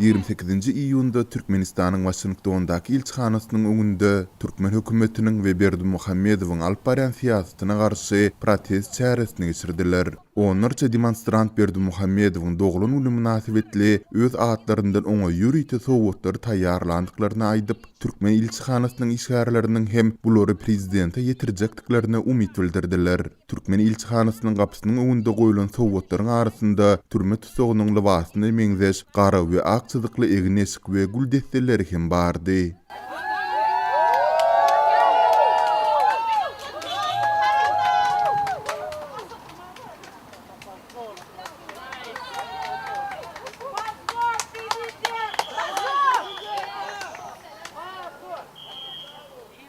Ýigrimi sekizinji iýunda Türkmenistanyň Waşingtondaky ilçihanasynyň öňünde türkmen hökümetiniň we Berdimuhamedowyň alyp barýan syýasatyna garşy protest çäresini geçirdiler. Onlarça demonstrant Berdimuhamedowyň doglan güni mynasybetli öz atlaryndan oňa ýörite sowgatlary taýýarlandyklaryny aýdyp, türkmen ilçihanasynyň işgärleriniň hem bulary prezidente ýetirjekdiklerine umyt bildirdiler. Türkmen ilçihanasynyň gapysynyň öňünde goýlan sowgatlaryň arasynda türme tussagynyň lybasyna meňzeş gara we ak çyzykly egin-eşik we gül desseleri hem bardy.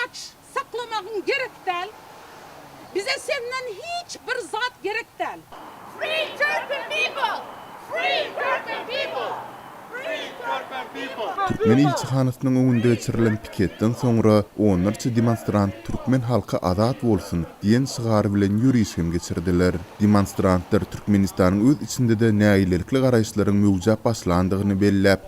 Aç saklamagyň gerek däl. Bize senden hiç bir zat gerek däl. Free Turkmen people! Free Turkmen people! Free Turkmen people! Mini ilçihanasynyň öňünde geçirilen piketden soňra onlarça demonstrant Türkmen halky azat bolsun! diýen şygar bilen ýöriş hem geçirdiler. Demonstrantlar Türkmenistanyň öz içinde-de nägilelikli garaýyşlaryň möwjäp başlandygyny belläp,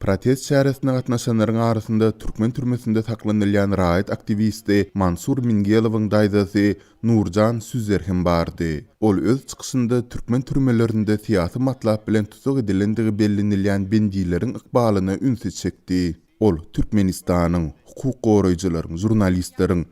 Protest çäresine gatnaşanlaryň arasynda türkmen türmesinde saklanylýan raýat aktiwisti Mansur Mingelowyň daýzasy Nurjan Süzer hem bardy. Ol öz çykyşynda türkmen türmelerinde syýasy matlap bilen tussag edilendigi bellenilýän bendileriň ykbalyna ünsi çekdi. Ol Türkmenistanyň hukuk goraýjylaryň, žurnalistleriň,